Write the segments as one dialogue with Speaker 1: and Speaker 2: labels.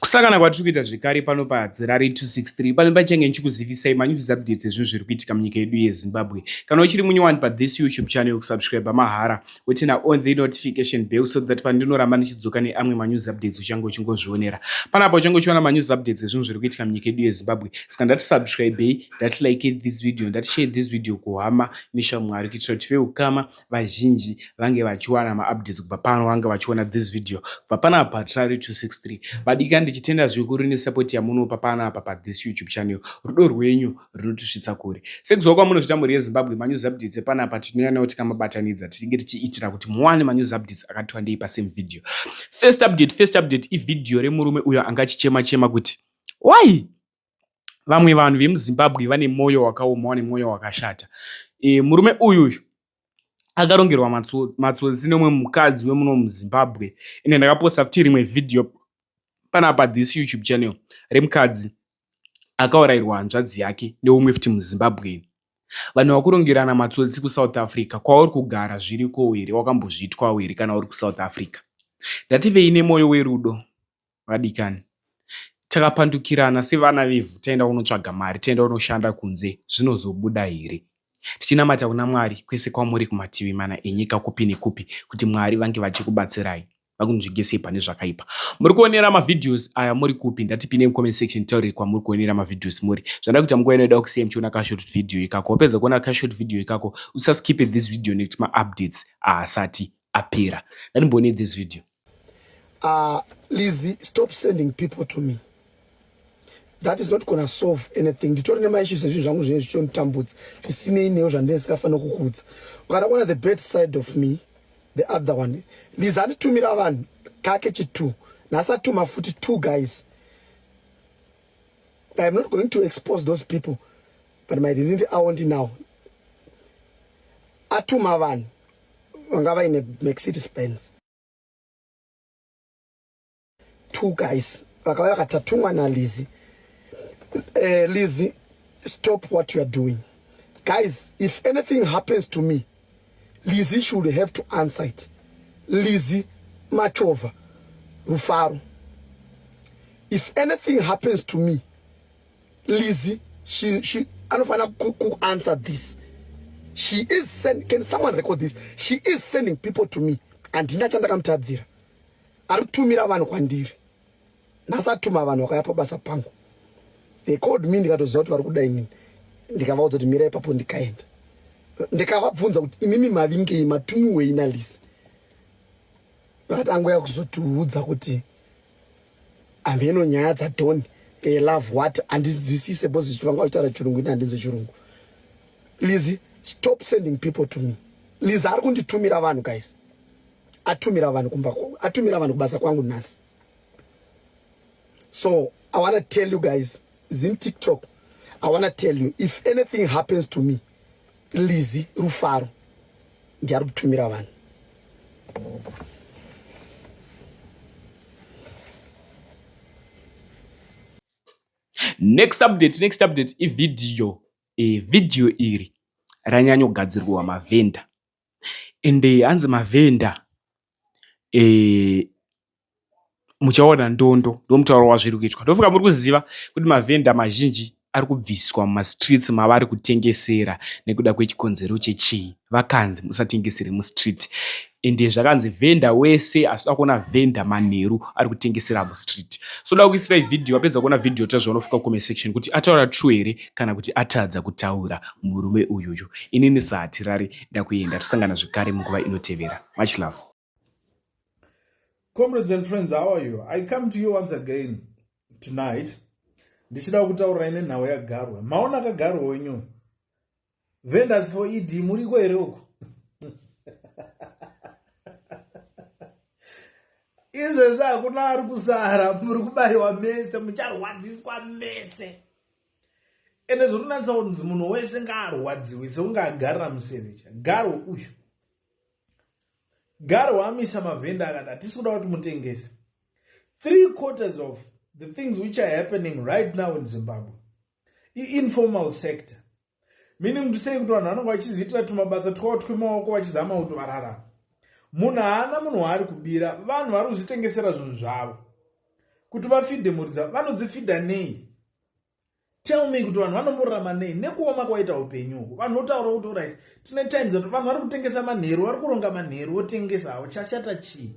Speaker 1: kusangana kwatiri kuita zvekare pano padzirari 263 pane pachange ndichikuzivisai manews updates ezvinhu zviri kuitika munyika yedu yezimbabwe kana uchiri munyowani pathis youtube channel kusubscribe mahara wotena on the notification bell so that pandinoramba ndichidzoka neamwe manews updates uchange uchingozvionera panapa uchange uchiona manews updates ezvinhu zviri kuitika munyika yedu yezimbabwe saka ndati subscribei ndati like this video ndati share this video kuhama neshamwari kuitira kuti veukama vazhinji vange vachiwana maupdates kubva pano vange vachiona this video kubva panapa patrari 263 vadika ndichitenda zvikuru nesupport yamunopa panapa pathis youtube channel rudo rwenyu runotisvitsa kure sekuziva kwamunozvita mhuri yezimbabwe manews updates epanapa tinoyanawo tikamabatanidza tichinge tichiitira kuti muwane manews updates akati wandei pasame video first update first update ivideo remurume uyo anga achichema chema kuti why vamwe vanhu vemuzimbabwe vane mwoyo wakaoma vane mwoyo wakashata e, murume uyu uyu akarongerwa matsotsi nomwe mukadzi wemuno muzimbabwe ende ndakaposta futi rimwe vhidhiyo panapa this youtube channel remukadzi akaurayirwa hanzvadzi yake neumwe futi muzimbabweni vanhu vakurongerana matsotsi kusouth africa kwauri kugara zviriko here wakambozviitwawo here kana uri kusouth africa ndativeine mwoyo werudo vadikani takapandukirana sevana vevhu taenda kunotsvaga mari taenda kunoshanda kunze zvinozobuda here tichinamata kuna mwari kwese kwamuri kumativi mana enyika kupi nekupi kuti mwari vange vachikubatsirai vakunzvengesei pane zvakaipa muri kuonera mavhidhios aya muri kupi ndatipinde mucomment section taurei kwamuri kuonera mavhidhios muri zvanda kuita munguva inoida kusiya muchiona kashort video ikako wapedza kuona kashort video ikako usaskipe this video nekuti maupdates ahasati apera ndatimbone this video Uh, Lizzie,
Speaker 2: stop sending people to me. That is not gonna solve anything. Nditori nema issues ezvinhu zvangu zvinenge zvichonditambudza zvisinei newo zvandinenge sikafanira kukudza. Ukada kuona the bad side of me, the other one. Lizzie anditumira vanhu kake chitu. Nhasi atuma futi two guys. I am not going to expose those people but my identity awo ndinawo. Atuma vanhu vanga vaine mercedes benz two guys vakauya vakatatungwa nalizi uh, eh, lizi stop what you are doing guys if anything happens to me lizi should have to answer it lizi machova rufaro if anything happens to me Lizzy she she anofanira ku, ku answer this she is send, can someone record this she is sending people to me handina chandakamutadzira ari kutumira vanhu kwandiri nhasi atuma vanhu vakaya pabasa pangu they called me ndikatoziva kuti vari kuda inini ndikavaudza kuti mira ipapo ndikaenda ndikavabvunza kuti imimi mavingei matumiwei nalisi vakati angoya kuzotiudza kuti Ameno nyaya dza Don they love what andizwisise because vanga vachitaura chirungu ini handinzwe chirungu. Lizzy stop sending people to me. Lizzy ari kunditumira vanhu guys. Atumira vanhu kumba atumira vanhu kubasa kwangu nhasi. So I want to tell you guys Zim TikTok I want to tell you if anything happens to me Lizzy Rufaro ndiye ari kutumira vanhu
Speaker 1: next update next update ividhiyo e, vhidhiyo iri ranyanyogadzirwa mavhenda ende hanzi mavhenda e, muchaona ndondo ndomutauro wazviri kuitwa ndofunga muri kuziva kuti mavhenda mazhinji ari kubviswa mumastreets mavari kutengesera nekuda kwechikonzero chechii vakanzi musatengesere mustreet ende zvakanzi vhenda wese asida kuona vhenda manheru ari kutengesera mustreet so da kuisirai vhidhiyo wapedza kuona vhidhiyo ta zvaunofuka comment section kuti ataura true here kana kuti atadza kutaura murume uyuyu inini sahatirari ndakuenda tosangana zvekare munguva inotevera much love
Speaker 3: comrades and friends how are you i come to you once again tonight ndichida kutaurirai nenhau yagarwe maona akagarwa wenyu venders for ed muriko here uku izvezvi hakuna ari kusara muri kubayiwa mese mucharwadziswa mese ende zvotonatsa kunzi munhu wese ngaarwadziwe seunge agarira musevecha garwe uyu Garo wamisa mavhenda akati hatisi kuda kuti mutengese three quarters of the things which are happening right now in zimbabwe iinformal sector meaning kuti sei kuti vanhu vanonge vachizviitira tumabasa twavo twemaoko vachizama kuti vararama munhu haana munhu waari kubira vanhu vari kuzvitengesera zvinhu zvavo kuti vafidhe mhuri dzavo vanodzifidha nei tell me kuti vanhu vanomborarama nei nekuoma kwaita upenyu uku vanhu votaura kuti orit tine times ati vanhu vari kutengesa manheru vari kuronga manheru votengesa havo chashata chii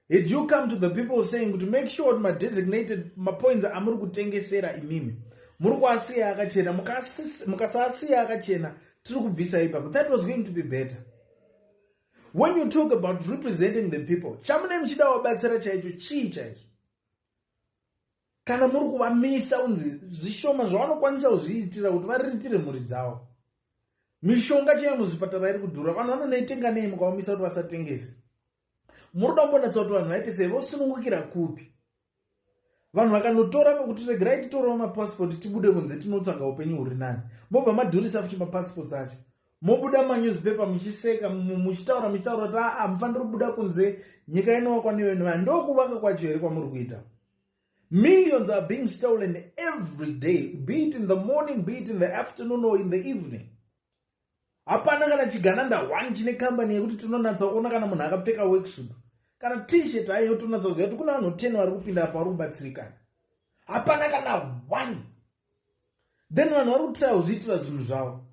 Speaker 3: had you come to the people saying kuti make sure kuti madesignated mapoints amuri kutengesera imimi muri kuasiya akachena mukasaasiya akachena tiri kubvisa ipapo that was going to be better when you talk about representing the people chamunei muchida wabatsira chaicho chii chaicho kana muri kuvamisa unzi zvishoma zvavanokwanisa kuzviitira kuti variritire mhuri dzavo mishonga chaiyo muzvipatara iri kudhura vanhu vanonoitenga nei mukavamisa kuti vasatengese muri kuda kumbonatsa kuti vanhu vaite sei vosunungukira kupi vanhu vakanotora kuti regerai titorawo mapasipoti tibude kunze tinotsvaga upenyu huri nani mobva madhurisa futi mapasipoti acho mobuda manewspaper muchiseka muchitaura muchitaura kuti aa ah, ah, mufaniri kubuda kunze nyika inowakwa neyo ndokuwaka kwacho here kwamuri kuita Millions are being stolen every day, be it in the morning, be it in the afternoon or in the evening. hapana kana chigananda one chine kambani yekuti tinonatsa kuona kana munhu akapfeka worksuit kana tshirt aiyo tonatsa kuziva kuti kuna vanhu 10 vari kupinda apa vari kubatsirikana hapana kana one then vanhu vari kutira kuzviitira zvinhu zvavo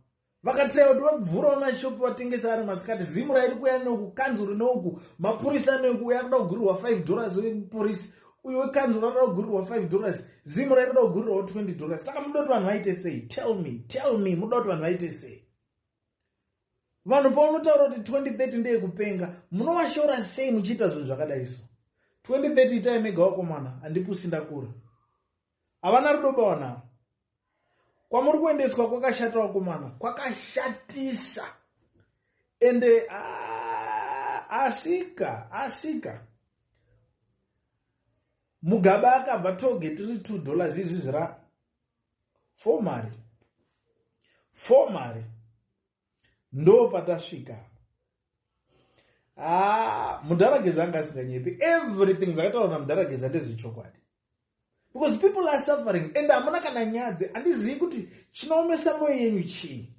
Speaker 3: vakataya kuti vabvurawo mashopi vatengesa ari masikati zimu rairi kuya neuku kanzuru neuku mapurisa aneuku uye akuda kugurirwa 5 dollars wepurisi uyo wekanzuru anoda kugurirwa 5 dollars zimu rairi kuda kugurirwawo 20 dollars saka muda kuti vanhu vaite sei tell me tell me muda kuti vanhu vaite sei vanhu paunotaura kuti 2030 ndeyekupenga munowashora sei muchiita zvinhu zvakadai so 2030 itai mega wakomana handipusi ndakura havana rudo bawana kwamuri kuendeswa kwakashata vakomana kwakashatisa ende ah, asika asika mugaba akabva toge tiri two dollars izvi zvira fo mari fo mari ndo patasvika apa haa ah, mudharageza anga asinganyepi everything zvakataura namudharageza ndezvechokwadi because people are suffering and hamuna kana nyadzi handizivi kuti chinoomesa moyo yenyu chii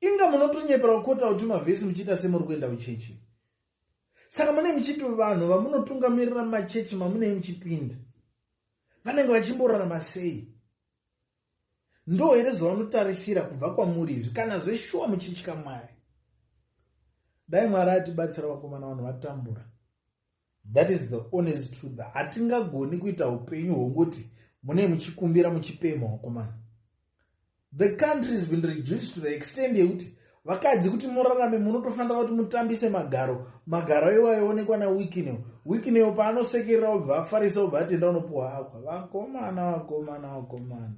Speaker 3: inga munotonyepera kukota kuti mavhesi muchiita semuri kuenda kuchechi saka mune muchiti vanhu vamunotungamirira machechi mamunei muchipinda vanenge vachimborarama sei Ndoo here zvavanotarisira kubva kwamuri izvi kana zveshuwa muchitya Mwari? Dai Mwari atibatsira vakomana vanhu vatambura. That is the honest truth. Hatingagoni kuita upenyu hwongoti mune muchikumbira muchipemha wakomana. The country has been reduced to the extent yekuti vakadzi kuti murarame munotofanira kuti mutambise magaro magaro iwo aionekwa nawikineo wikineo paanosekerera obva afarisa obva atenda unopuwa akwa vakomana vakomana vakomana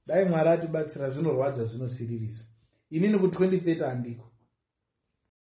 Speaker 3: dai mwari atibatsira zvinorwadza zvinosiririsa inini ku 2030 handiko